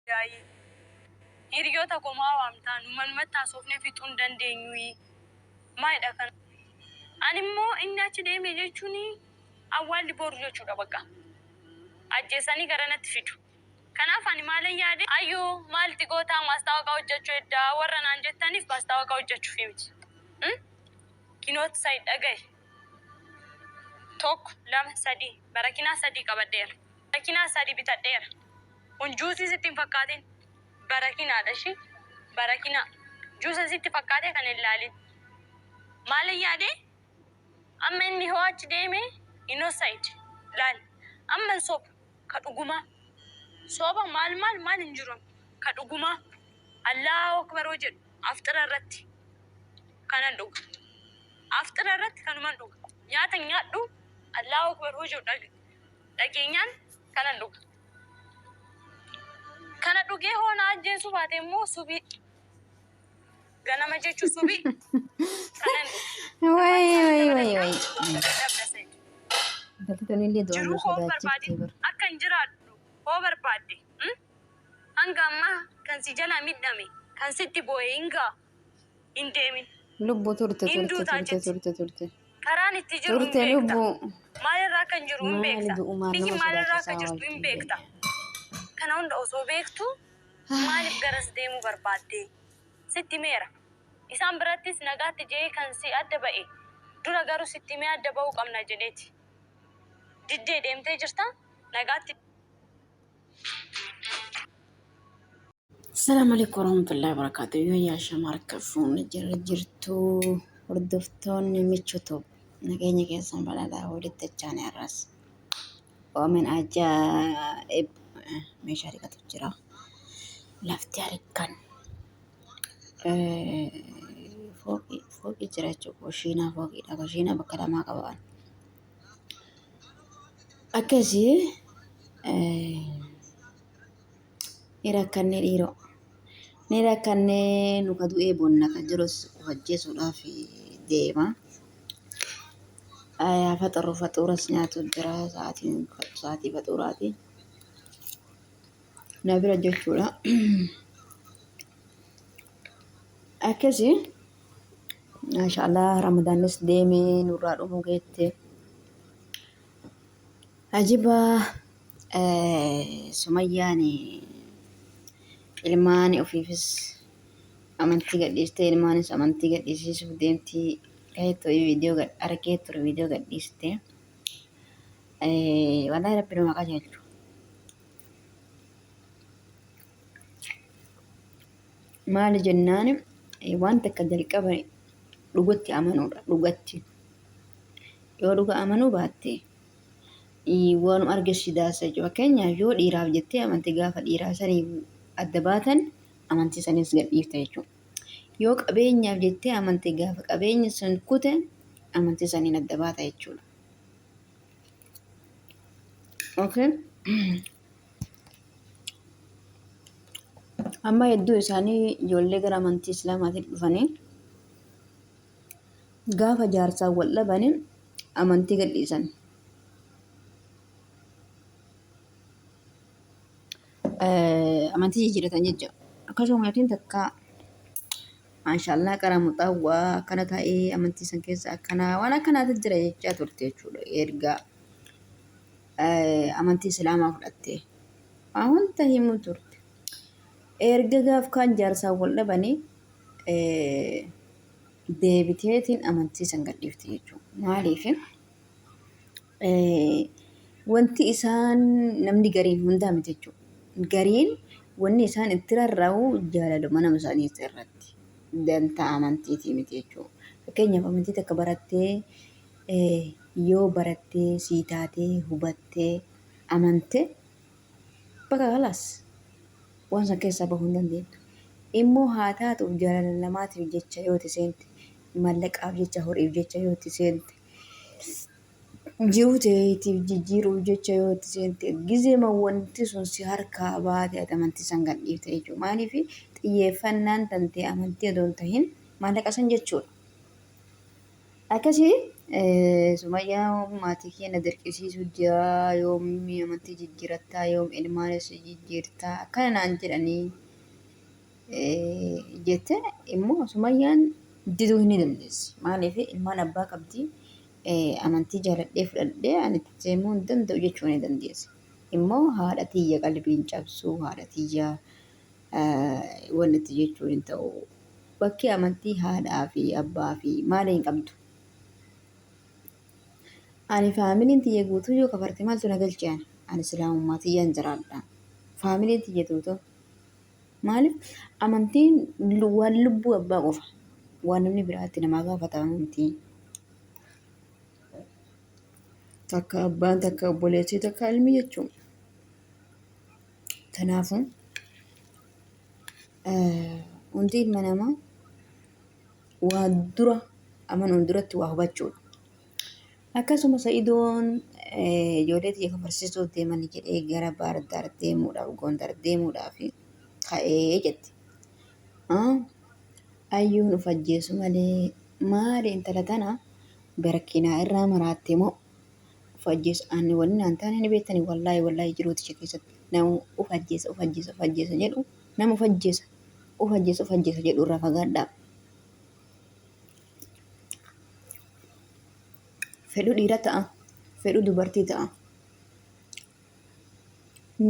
Daayii. Hiryoota koo maa waamtaa nu manumatti haasofnee fixuu hin dandeenyuuyii? Maalidha kan. Ani immoo inni achi deeme jechuun awwaalli boru jechuudha baqqa. Ajjeesanii garanatti fidu. Kanaaf ani maalan yaade Ayyuu maalti gootaa maastaawaqaa hojjachuu hedda warra naan jettaniif maastaawaqaa hojjachuufi miti. Umm kinoot said dhagahi. Tokko lama sadii barakinaa sadii qabadheera. Barakinaa sadi bitadheera kun juusii sitti hin fakkaatin barakinaadha ishi barakinaa juusa sitti fakkaatee kan hin laalin maalin yaade amma inni hoo achi deeme inosaid laal amma hin soba ka dhugumaa soba maal maal maal hin jiru ka dhugumaa allaahu akbar hoo jedhu afxira irratti kanan dhuga afxira irratti kanuman dhuga nyaata nyaadhu allaahu akbar hoo jedhu dhaga dhageenyaan kanan dhuga. Kana dhugee hoo na ajjeesuu baate immoo subii ganama jechu subii kanan dhuga. Way way way way. Galtoon illee du'aan nu Jiruu hoo barbaade sodaachiftee bara. akka hin jiraadhu hoo barbaadde mm? hanga ammaa kan si jalaa midhame kan sitti boo'e hin ga'a. hin deemin. Lubbu turte Hin turte duutaa turte jetti. turte turte. Karaan itti jiru hin Turte beekta. lubbu. Maalirraa akka hin jiru hin Maali beekta. du'umaan Biyyi nama maalirraa akka sodaachisaa jirtu hin waaqni beekta. Kana hunda osoo beektu maaliif garas deemuu barbaadde? Sitti himeera. Isaan birattis nagaatti jedhee kan si adda ba'e. Dura garuu sitti himee adda ba'uu qabna jedheeti. Diddee deemtee jirta. Nagaatti Assalamu alaikum warahmatullahi wabarakatuh. Yoo yaa shamaar kafuun jira jirtu hordoftoonni michutu nageenya keessan badhaadhaa walitti achaan irras. Oomin ajaa'ib meeshaa dhiqatu jira. Lafti harkaan fooqii fooqii jira jechuudha. Kushiinaa fooqiidha. Kushiinaa bakka lamaa qaba waan. Akkasii Ni rakkannee dhiiroo. Ni rakkannee nu ka du'ee bonna ka jirus of ajjeesuudhaaf deema. Ayaa faxaruu faxuuras nyaatu jira sa'aatiin sa'aatii faxuuraati. Na bira jechuudha. Akkasi maashaallah ramadaanis deemee nurraa dhumuu geette. Ajibaa sumayyaan ilmaan ofiifis amantii gadhiistee ilmaanis amantii gadhiisiisuuf deemtii kaheettoo viidiyoo gad argee ture viidiyoo gadhiiste walaa rabbi nama qajeelchu maali jennaan waan takka jalqaba dhugatti amanuudha dhugatti yoo dhuga amanuu baatte Waan arge si daasa jechuudha. Fakkeenyaaf yoo dhiiraaf jettee amantii gaafa dhiiraa sanii adda baatan amantii saniis gadhiifta jechuudha. Yoo qabeenyaaf jettee amantii gaafa qabeenya sun kute amantii saniin adda baata jechuudha. Okay. Amma hedduu isaanii ijoollee gara amantii Islaamaatiin dhufanii gaafa jaarsaan wal dhabanii amantii gadhiisan. amantii jijjiiratan jecha akkasuma maatiin takka maashaallah qaraa muxaawwaa akkana taa'ee amantii san keessa akkanaa waan akkanaatu jira jechaa turte jechuudha erga amantii islaamaa fudhatte waa hunda himuu turte erga gaaf kaan jaarsaan wal dhabanii deebiteetiin amantii san gadhiifti jechuudha. Maaliif? Wanti isaan namni gariin hundaa miti jechuudha. Gariin wanni isaan itti rarra'u jaalaluma nama isaanii irratti dantaa amantiitii miti jechuudha. Fakkeenyaaf amantii takka barattee yoo barattee sii taatee hubattee amante Bakka kalaas waan san keessaa bahuu hin dandeenna. Immoo haa taatuuf jaalala namaatiif jecha yoo itti seente, mallaqaaf jecha, horiif jecha yoo itti seente, jiruu teetiif jijjiiruuf jecha yoo itti seente, gizeema wanti sun si harkaa baate ati amantii san gad dhiifta jechuudha. Maaliif xiyyeeffannaan tantee amantii odoo hin tahin maallaqa san jechuudha. Akkasii Sumayyaan maatii kee na dirqisiisuu jira yoom amantii jijjiirattaa yoom ilmaanis jijjiirtaa akkana naan jedhanii jette immoo Sumayyaan diduu hin dandeessi. Maaliif ilmaan abbaa qabdi amantii jaaladhee fudhadhee ani itti deemuu hin danda'u jechuu ni dandeessi. Immoo haadha tiyya qalbiin cabsuu haadha tiyya walitti jechuun hin ta'u. Bakki amantii haadhaa fi abbaa fi maala hin qabdu. Ani faamiliin tiyya guutuu yoo kafarte maaltu na galche ani? Ani islaamummaa tiyyaan jiraadha. Faamiliin tiyya tuutoo. Maaliif amantiin lu- waan lubbuu abbaa qofa. Waan namni biraatti namaa gaafata amantiin. Takka abbaan takka obboleessi takka ilmi jechuudha. Kanaafuu hundi ilma namaa waa dura amanuun duratti waa hubachuudha. Akkasuma Sa'idoon ijoollee tiyya kan barsiisuuf deeman jedhee gara Baar Daar deemuudhaaf Gondar deemuudhaaf ka'ee jette. Ayyuun of ajjeesu malee maali intala tana garkiinaa irraa maraatte moo of ajjeesu aanni waliin naan taane ni beektani wallaahi wallaahi jiruu tisha keessatti nama of ajjeesa of ajjeesa of ajjeesa jedhu nama of ajjeesa of ajjeesa of ajjeesa jedhu irraa fagaadhaa. Fedhu dhiira ta'a fedhu dubartii ta'a.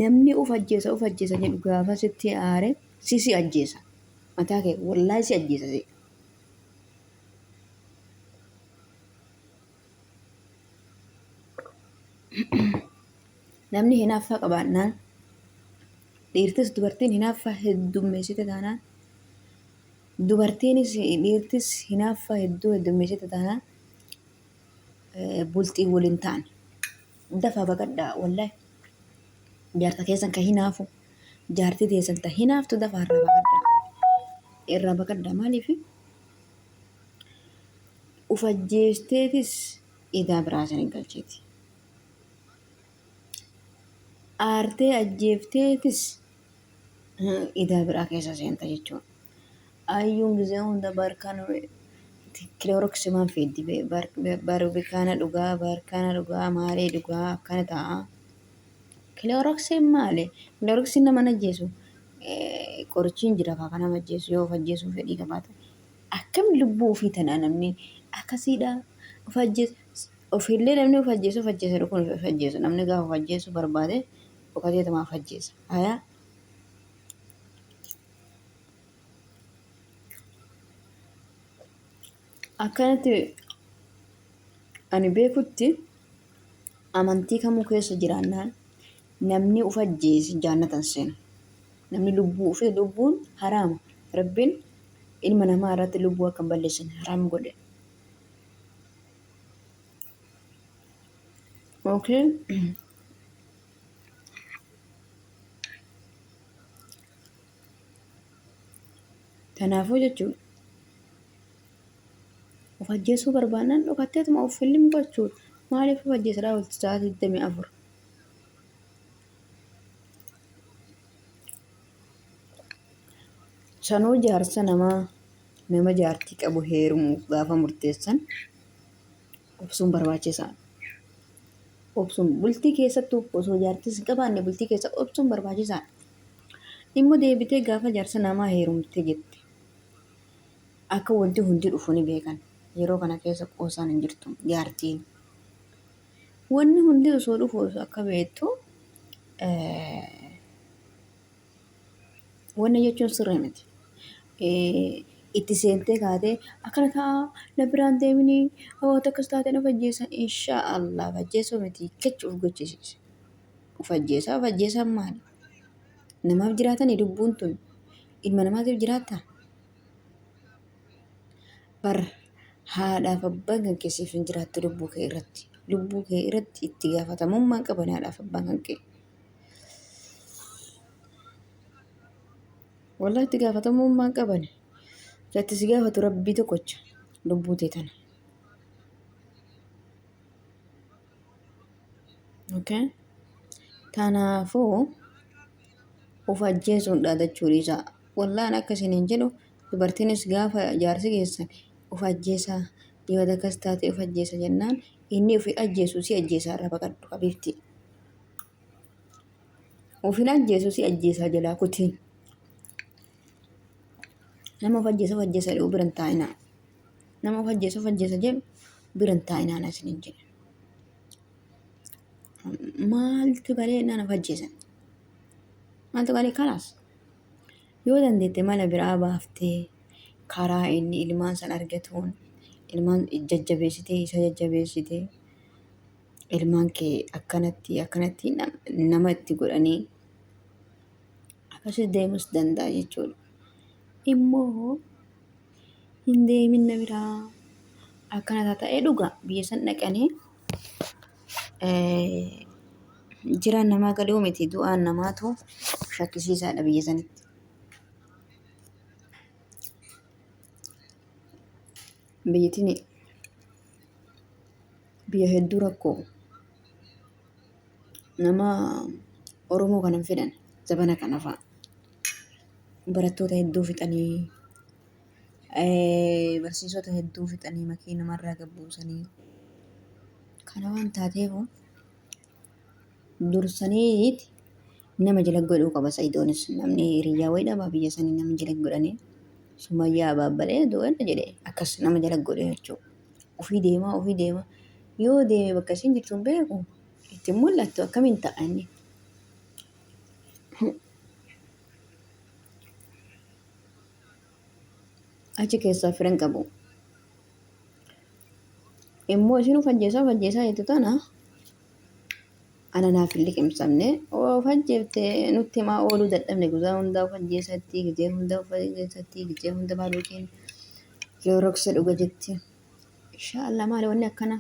Namni of ajjeesa of ajjeesa jedhu gaafa sitti aare si si ajjeesa mataa kee wallaahi si ajjeesa si. namni hinaaffaa qabaannaan dhiirtis dubartiin hinaaffaa heddummeessite taanaan dubartiinis dhiirtis hinaaffaa hedduu heddummeessite taanaan eh, bultii waliin ta'an dafaa baqadhaa wallahi jaarsa keessan kan hinaafu jaartii teessan ta hinaaftu dafaa irraa baqadhaa irraa baqadhaa maaliifi Uf ajjeefteetis idaa biraa san hin galchiti. Aartee ajjeefteetis idaa biraa keessa seenta jechuudha. Ayyuun gizee hunda barkaan kilooroksi maan fiiddi barubikaana dhugaa barkaana dhugaa maalee dhugaa akkana ta'a. Kilooroksiin maali? Kilooroksiin nama ajjeesu qorichiin jira kaa nama ajjeesu yoo of ajjeesuu fedhii qabaate akkam lubbuu ofii tanaa namni akkasiidha of ajjeesu ofiillee namni of ajjeesu of ajjeesa jedhu kun of ajjeesu namni gaafa of ajjeesu barbaade dhokatee tamaaf ajjeesa hayaa akkanatti Ani beekutti amantii kamuu keessa jiraannaan namni uf ajjeese jaannata hin seenu. Namni lubbuu ufee lubbuun haraama. Rabbiin ilma namaa irratti lubbuu akka hin balleessine haraam godhe. Okay. Kanaafuu jechuun Of ajjeesuu barbaannaan dhokatteetuma of film gochuudha. Maaliif of ajjeesadhaa olti sa'aa 24? Sanuu jaarsa namaa nama jaartii qabu heerumuuf gaafa murteessan obsuun barbaachisaadha. Obsuun bultii keessatti osoo jaartis hin qabaanne bultii keessa obsuun barbaachisaadha. Immoo deebitee gaafa jaarsa namaa heerumte jette. Akka wanti hundi dhufu ni beekan. Yeroo kana keessa qoosaan hin jirtu. Jaartiin wanni hundi osoo dhufu osoo akka beektu wanna jechuun sirrii miti. Itti seentee kaatee akkana ta'a na biraan deemini wanta akkas taate na fajjeessa inshaa Allah fajjeessuu miti kechi of gochisiise. Of ajjeesaa of ajjeesaan maali? Namaaf jiraatanii lubbuun tun ilma namaatiif jiraattaa? bar haadhaaf abbaan kan kee siif hin jiraattu lubbuu kee irratti lubbuu kee irratti itti gaafatamummaa qaban haadhaaf abbaan kan kee wallahi itti gaafatamummaa qaban kan itti si gaafatu rabbii tokkocha lubbuu tee tana okay kanaafuu of ajjeesuun dhaadachuu dhiisaa Wallah an akka isiniin jedhu dubartiinis gaafa jaarsi keessan of ajjeesa dibata akkas taatee of ajjeesa jennaan inni ofi ajjeesu si ajjeesaa irraa baqadhu habiibti. Ofin ajjeesu si ajjeesaa jalaa kutiin. Nama of ajjeesa of ajjeesa jedhu biran taa'inaa. Nama of ajjeesa of ajjeesa jedhu biran taa'inaa na isiniin jedhe. Maaltu garee naan of ajjeesan? Maaltu garee kanaas? Yoo dandeette mala biraa baaftee karaa inni ilmaan san argatuun ilmaan jajjabeessitee isa jajjabeessitee ilmaan kee akkanatti akkanatti nama itti godhanii akkasitti deemus danda'a jechuudha. Immoo hin deemin na biraa akkana ta'ee dhugaa biyya san dhaqanii Jiraan namaa gadhoo miti du'aan namaatu shakkisiisaadha biyya sanitti. Biyyitiin biyya hedduu rakkoo nama Oromoo kanan fedhan zabana kana fa'a barattoota hedduu fixanii barsiisota hedduu fixanii makii namarraa gabbuusanii kana waan taateef dursaniiti nama jala godhuu qaba sa'iidoonis namni hiriyyaa wayii dhabaa biyya sanii nama jala godhanii sumayyaa abaabbalee du'eedha jedhe akkas nama jala godhe jechuudha ofii deemaa ofii deemaa yoo deeme bakka isin jirtu hin beeku itti mul'attu akkamiin ta'a inni achi keessaa fira hin qabu. Immoo isin of ajjeesaa of ajjeesaa jettu tana ana naaf hin liqimsamne of ajjeefte nutti himaa ooluu dadhabne guyyaa hundaa of ajjeesatti gizee hundaa of ajjeesatti gizee hunda maal yookiin kilooroksa dhuga jetti. Inshaallah maali wanni akkana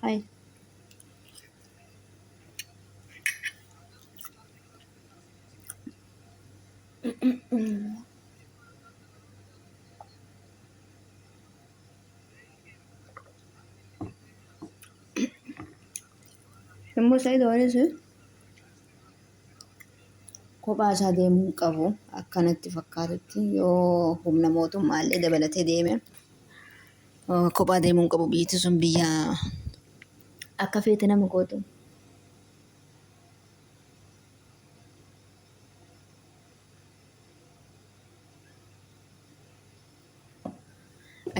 hayi. Immoo Sa'iid Waanis kophaa isaa deemuu hin qabu akkanatti fakkaatutti yoo humna mootummaa illee dabalatee deeme eh, kophaa deemuu hin qabu biyyatti sun biyya akka feete nama gootu.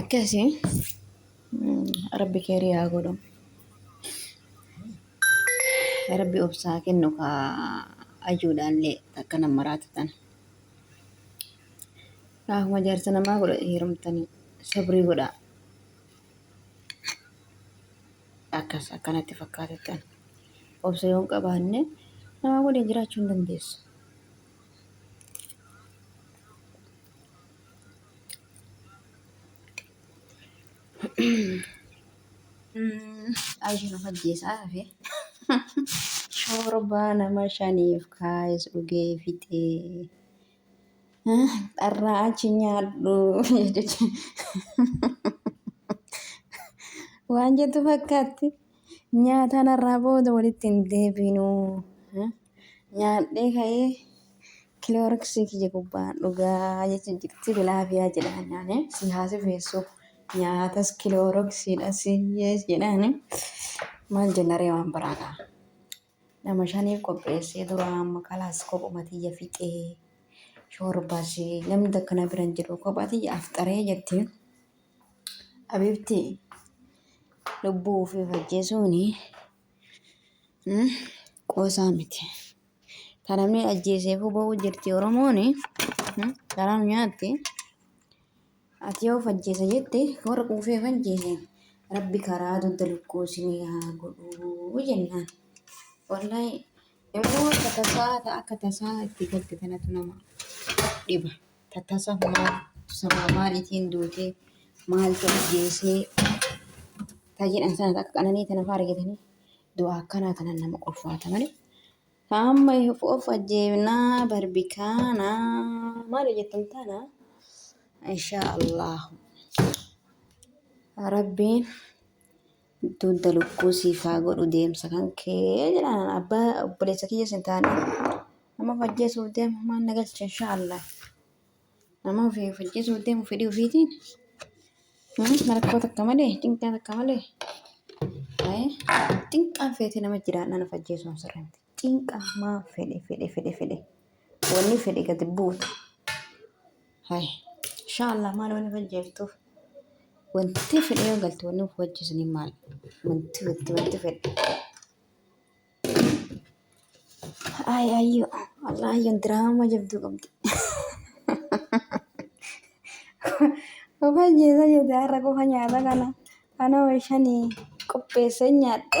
akkasi rabbi keeri yaa godhu rabbi obsaa kennu ka ajuudhaallee takka nama maraatu tana kaakuma jaarsa namaa godha heerumtanii sabrii godhaa Akkas akka natti fakkaatutti ani. Obsa yoon qabaanne namaa waliin jiraachuu hin dandeessu. Aisha nu fajjeessaa hafe. Shorbaa nama shaniif kaayes dhugee fixee. Dharraa achi nyaadhu jechuudha. Waan jettu fakkaatti. Nyaataan har'aa booda walitti hin deebinu. Nyaadhee ka'ee kilooriksii kiyya gubbaan dhugaa jechuun jirti bilaafiyaa jedhaan nyaanee si haasifeessu. Nyaatas kilooriksiidha si jedhaani. Maal jenna ree waan biraa kaa. Nama shaniif qopheessee duraa amma kalaas kophuma tiyya fixee shoorbas namni takka na biran jiru kophaa tiyya afxaree jetti. Abibti lubbuu ofii ajjeesuun qoosaa miti. Kan namni ajjeeseefuu ba'uu jirti Oromoon garaa nu nyaatti. Ati yoo of ajjeesa jette warra quufee of ajjeeseen rabbi karaa dugda lukkuu isinii haa godhuu jennaan. Wallahi immoo akka tasaa ta- akka tasaa itti galte tanatu nama dhiba. Ta tasa maal sababa maaliitiin duutee maaltu ajjeesee ta jedhan sana akka qananii tana faa argitanii du'a akkanaa tanan nama ulfaata malee. Amma ifu of ajjeefnaa barbikaana maali jettan tana inshaa Allah rabbiin dugda lukkuu siif haa godhu deemsa kan kee jedhaan abbaa obboleessa kiyya sin taane nama of ajjeesuuf deema maan na galcha inshaa Allah. Nama ofii hojjechiisuuf deemu fedhii ofiitiin rakkoo takka malee cinqaa takka malee cinqaan feetee nama jiraannaa nama ajjeesuun sirrii miti. Cinqaa maa fedhe fedhe fedhe fedhe wanni fedhe gadi buutu. Hai inshaallah maal wanni hojjeeftuuf wanti fedhe yoo galte wanni hojjeesanii maal wanti wanti wanti fedhe. Ay ayyo Allah ayyon diraama jabduu qabdi. Qofa jeesa jeeta har'a qofa nyaata kana kana wayshanii qopheessee nyaadhe.